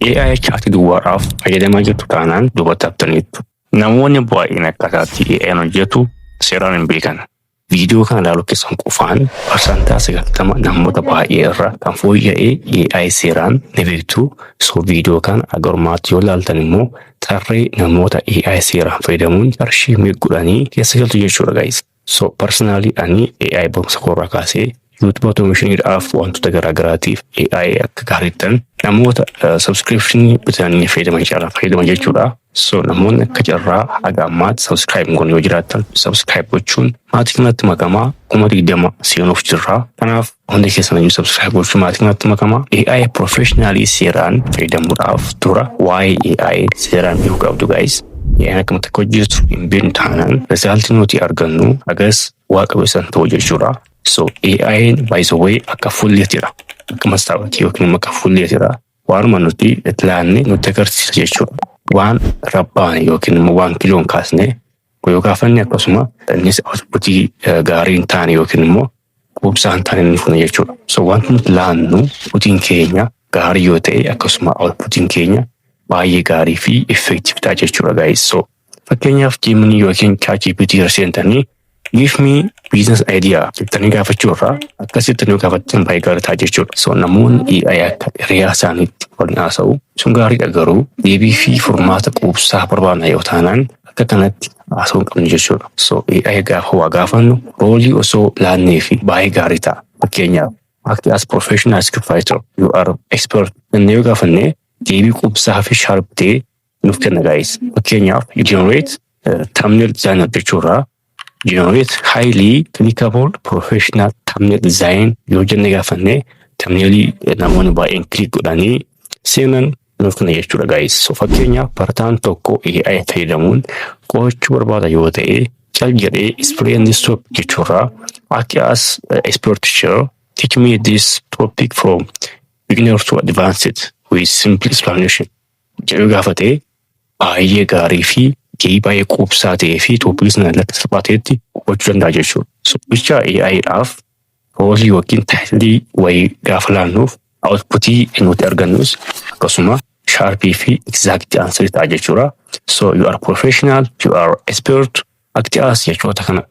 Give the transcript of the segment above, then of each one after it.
AI chaati duwwaadhaaf fayyadamaa jirtu taanaan duubatti haftaniittu. Namoonni baay'een akkaataatti AI'n hojjetu seeraan hin beekan. Viidiyoo kana ilaaluu keessan qofaan parsantaa 90 namoota baay'ee irra kan fooyya'ee AI seeraan ni beektu. So viidiyoo kana agarummaatti yoo ilaaltan immoo tarree namoota AI seeraan fayyadamuun qarshii meequdhanii keessa galtu jechuudha gaa'isa. So personally ani AI barumsa koorraa kaasee YouTube automation dhaaf wantoota garaagaraatiif AI akka gaariittan namoota subscription bitanii fayyadaman caalaa fayyadaman jechuudha. So namoonni akka carraa haga ammaatti subscribe goon yoo jiraattan subscribe gochuun maatii kanatti makamaa kuma digdama seenuuf jirra. Kanaaf Hundi keessan ayyuu subscribe gochuu maatii kanatti makamaa. AI professionally seeraan fayyadamuudhaaf dura waa'ee AI seeraan beekuu qabdu guys. AI akkamitti akka hojjetu hin beeknu taanaan resaaltii nuti argannu hagas waa qabeessan ta'u jechuudha. So AI by the way akka fulleetidha. Akka mastaawatii yookiin immoo akka fulleetidha. Waanuma nuti itti laannee nutti agarsiisa jechuudha. Waan rabbaane yookiin immoo waan kiloon kaasne yoo gaafanne akkasuma innis outputii gaarii hin taane yookiin immoo quubsaan kan inni fune jechuudha. So wanti nuti laannu putiin keenya gaarii yoo ta'e akkasuma outputiin keenya baay'ee gaarii fi effective ta'a jechuudha guys. So fakkeenyaaf Gemini yookiin ChatGPT irra seentanii give me business idea jettanii gaafachuu irraa akkasitti nu gaafattan baay'ee gaarii ta'a jechuudha. So namoonni AI akka hiriyaa isaaniitti waliin haasa'u sun gaariidha garuu deebii fi furmaata quubsaa barbaadna yoo taanaan akka kanatti baasuu hin qabnu jechuudha. So AI gaafa waa gaafannu roolii osoo laannee fi baay'ee gaarii ta'a. Fakkeenyaaf act as professional script writer you are expert jennee yoo gaafanne deebii qubsaa fi sharp ta'e nuuf kenna gaa'is. Fakkeenyaaf you generate uh, thumbnail designer jechuurraa generate highly clickable professional thumbnail design yoo jenne gaafanne thumbnailii namoonni baay'een click godhanii seenan Nuuf kana jechuudha guys. So fakkeenyaaf barataan tokko AI fayyadamuun qo'achuu barbaada yoo ta'e cal jedhee explain and stop jechuurraa akka as uh, expert teacher teach me this topic from beginner to advanced with simple explanation jedhu gaafatee baay'ee gaarii fi gahii baay'ee quubsaa ta'ee fi toopikii sana irratti salphaa ta'etti hubachuu danda'a jechuudha. So jecha AI dhaaf roolii yookiin taayitilii wayii gaafa laannuuf outputii nuti argannus akkasuma sharp fi exact answer ta'a jechuudha. So you are professional, you are expert, akti as jechoota kana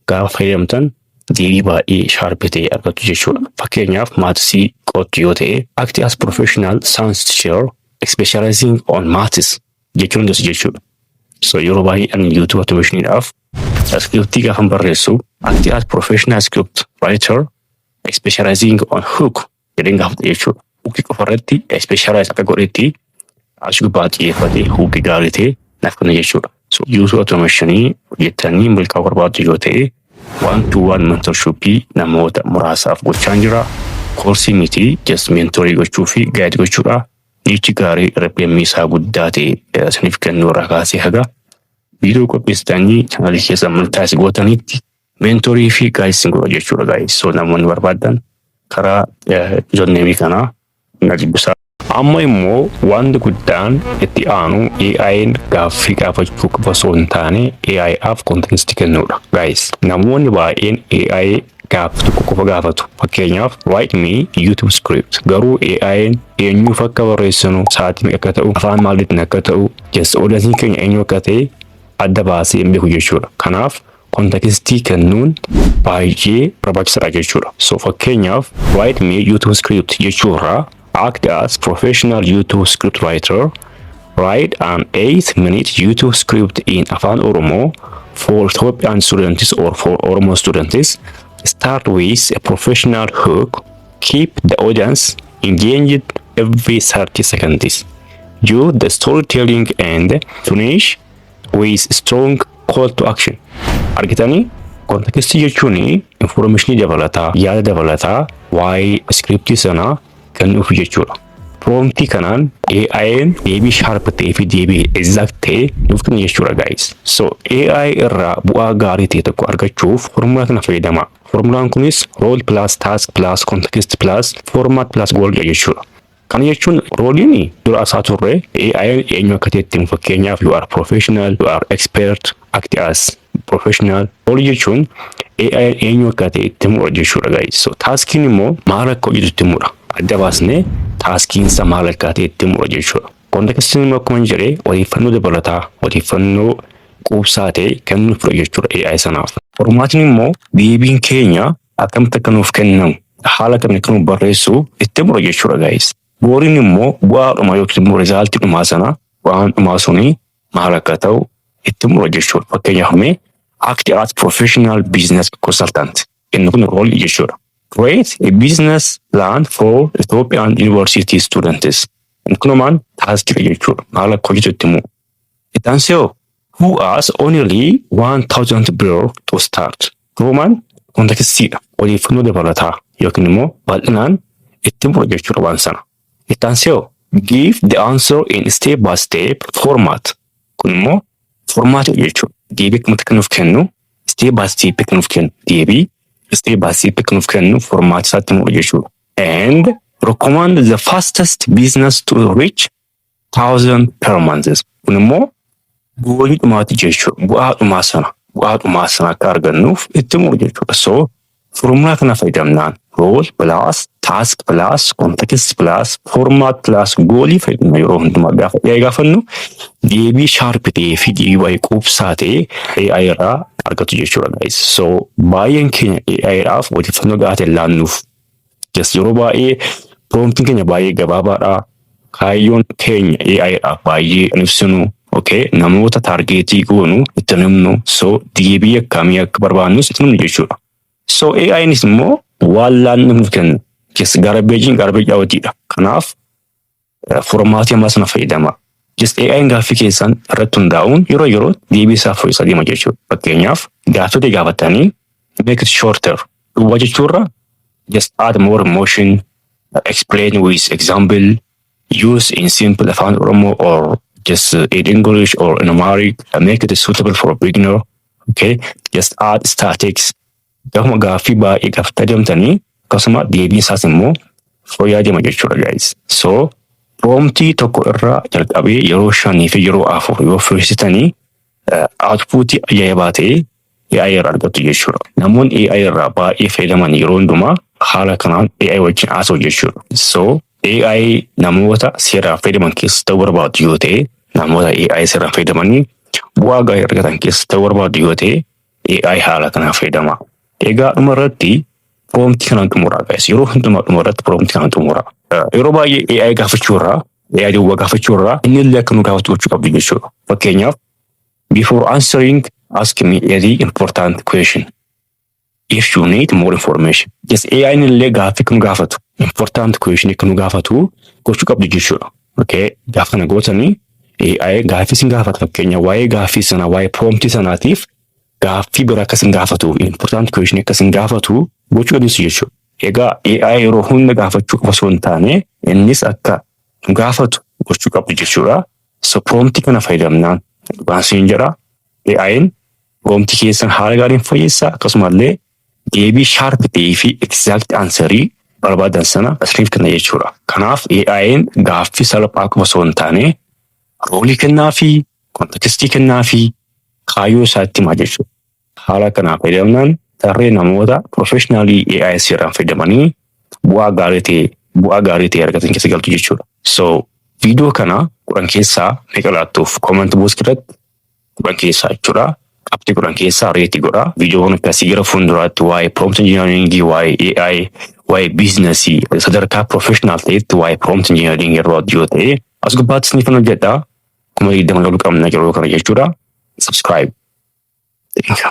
gaafa fayyadamtan deebii baay'ee sharp ta'e argattu jechuudha. Fakkeenyaaf maatisii qo'attu yoo ta'e akti as professional science teacher specializing on maths jechuun das jechuudha. So yeroo baay'ee ani YouTube automationiidhaaf Iskiriptii gaafan barreessu ati as professional script writer specializing on hook jedheen gaafadha jechuudha. Hook qofa irratti specialize akka godhetti as gubbaa xiyyeeffatee hook gaarii ta'e naaf kenna jechuudha. So user automation hojjettanii milkaa'uu barbaaddu yoo ta'e waan to waan mentorship namoota muraasaaf gochaan jira. Koorsii miti just mentorii gochuu fi gaayid gochuudha. Nichi gaarii RPM isaa guddaa ta'e isiniif kennuu irraa kaasee haga Viidiyoo qopheessitanii chaanaalii keessa amantaa si gootanitti meentorii fi gaayis sin godha jechuudha gaayis. So namoonni barbaadan karaa joonneemii kanaa na dubbisaa. Amma immoo wanti guddaan itti aanu AI'n gaaffii gaafachuu qofa osoo hin taane AI'aaf konteenstii kennuudha. Gaayis namoonni baay'een AI gaaffii tokko qofa gaafatu. Fakkeenyaaf write me YouTube script garuu AI'n eenyuuf akka barreessinu sa'aatii meeqa akka ta'u afaan maaliitiin akka ta'u Yes, audiensiin keenya eenyu akka ta'e adda baasee hin beeku jechuudha. Kanaaf kontakistii kennuun baay'ee barbaachisaadha jechuudha. So fakkeenyaaf write me YouTube script jechuurraa act as professional YouTube script writer write an 8 minute YouTube script in Afaan Oromoo for Ethiopian students or for Oromo students start with a professional hook Keep the audience engaged every 30 seconds. Do the storytelling and finish with strong call to action. Argitanii? Kontekistii jechuun infoormeeshinii dabalataa, yaada dabalataa waa'ee iskiriptii sanaa kan dhufu jechuudha. Proomtii kanaan AI'n deebii sharp ta'ee fi deebii exact ta'e nuuf kenna jechuudha guys. So AI irraa bu'aa gaarii ta'e tokko argachuuf formula kana fayyadamaa. Formulaan kunis rool pilaas taask pilaas kontekist pilaas foormaat pilaas goolidha jechuudha. Kana jechuun rooliin dura asaa turre AI'n eenyu akka ta'etti himu fakkeenyaaf you are professional, you are expert, act as professional. Roolii jechuun AI'n eenyu akka ta'e itti himudha jechuudha guys. So taaskiin immoo maal akka hojjetu itti himudha. Adda baasnee taaskiinsa maal akka ta'e itti himudha jechuudha. Kontekistiin immoo akkuma jedhe odeeffannoo dabalataa odeeffannoo quubsaa ta'e kennuufidha jechuudha AI sanaaf. Qormaatni immoo deebiin keenya akkamitti akka nuuf kennamu haala kamiin akka nuuf barreessu itti mura jechuudha gaa'is. Booriin immoo bu'aadhuma yookiin immoo rizaaltii dhumaa sana bu'aan dhumaa suni maal akka ta'u itti mura jechuudha. Fakkeenyaaf mee act as professional business consultant inni kun roolii jechuudha. Create a business plan for Ethiopian university students. Inni kun maal taaskidha jechuudha. Maal akka hojjetu itti mura. Itti aansee hoo? Who has only 1000 birr to start? Roomaan kontekistiidha. Odeeffannoo dabalataa yookiin immoo bal'inaan itti himudha jechuudha waan sana. Itti aansee hoo? Give the answer in step by step format. Kun immoo formaatiidha jechuudha. Deebii akkamitti akka nuuf kennu step by step akka nuuf kennu deebii step by step akka nuuf kennu formaatisaatti himudha jechuudha. And recommend the fastest business to reach thousand per months kun immoo goolii dhumaati jechuudha bu'aa dhumaa sana bu'aa dhumaa sana akka argannuuf itti muru jechuudha so formulaa kana fayyadamnaan rool pilaas taask pilaas kontekst pilaas formaat pilaas goolii fayyadamna yeroo hundumaa gaafa dhiyaa gaafannu deebii shaarpi ta'ee fi deebii baay'ee quubsaa ta'e AI irraa argatu jechuudha guys so baay'een keenya AI dhaaf odeeffannoo gahaa ta'e laannuuf Yes, yeroo baay'ee promptiin keenya baay'ee gabaabaadha. Kaayyoon keenya AI dha baay'ee hin ibsinu. Okay, namoota taargeetii goonu itti hin himnu. So deebii akkamii akka barbaannus itti hin himnu jechuudha. So AInis immoo waan laanne nuuf kenna. Yes, garbeejiin garbeejii awwatiidha. Kanaaf Furmaati ammaa sana fayyadamaa. Just AI'n gaaffii keessan irratti hundaa'uun yeroo yeroo deebii isaa fooyyessaa deema jechuudha. Fakkeenyaaf gaaffii ta'e gaafattanii make it shorter duwwaa jechuurra just add more emotion explain with example use in simple afaan oromoo or just in english or in amharic make it suitable for a beginner okay just add statics Gafuma gaaffii baay'eedhaaf tajamtanii akkasuma deebiin isaas immoo fooyyaa jama jechuudha guys. So proomtii tokko irraa jalqabee yeroo shanii fi yeroo afur yoo fooyyessitanii outpuutii ajaa'ibaa ta'e AI irraa argattu jechuudha. Namoonni AI irraa baay'ee fayyadaman yeroo hundumaa haala kanaan AI wajjin haasa'u jechuudha. So AI namoota seeraan fayyadaman keessa ta'uu barbaadu yoo ta'e namoota AI seeraan fayyadamanii bu'aa gaarii argatan keessa ta'uu barbaadu yoo ta'e AI haala kanaan fayyadama. Egaa dhuma irratti proomtii kanaan xumuraa guys. Yeroo hundumaa dhuma irratti proomtii kanaan xumuraa. Eh, Yeroo baay'ee AI gaafachuu irraa AI duwwaa gaafachuu irraa inni illee akka nu gaafatu gochuu qabdu jechuudha. Fakkeenyaaf before answering ask me a very important question. If you need more information. Yes, AI inni illee gaaffii akka nu gaafatu important question akka nu gaafatu gochuu qabdu jechuudha. Okay, gaafa kana gootanii AI gaaffii sin gaafata fakkeenya waa'ee gaaffii sanaa waa'ee prompt sanaatiif gaaffii biraa akka sin gaafatu important question akka sin gaafatu gochuu dandeessu jechuudha. Egaa AI yeroo hunda gaafachuu qofa osoo hin taane innis akka nu gaafatu gochuu qabdu jechuudha. So prompt kana fayyadamnaan dhugaan siin jedha AI'n prompt keessan haala gaariin fooyyessa akkasumallee deebii sharp ta'ee fi exact answer barbaadan sana isiniif kenna jechuudha. Kanaaf AI'n gaaffii salphaa qofa osoo hin taane roolii kennaa fi kontekstii kennaa fi kaayyoo isaatti himaa jechuudha. Haala kanaa fayyadamnaan tarree namoota profeshinaalii AI seeraan fayyadamanii bu'aa gaarii ta'e bu'aa gaarii ta'e argatan keessa galtu jechuudha. So viidiyoo kana kudhan keessaa meeqa laattuuf comment box irratti kudhan keessaa jechuudha. Qabxii kudhan keessaa reeti godha. Viidiyoon akkasii gara fuulduraatti waa'ee prompt engineering, waa'ee AI, waa'ee biizinasii sadarkaa professional ta'etti waa'ee prompt engineering irra hojjoo ta'e as gubbaatti isiniif kan hojjedha. Kuma digdama lolu qabna yeroo kana jechuudha. Subscribe. Thank you.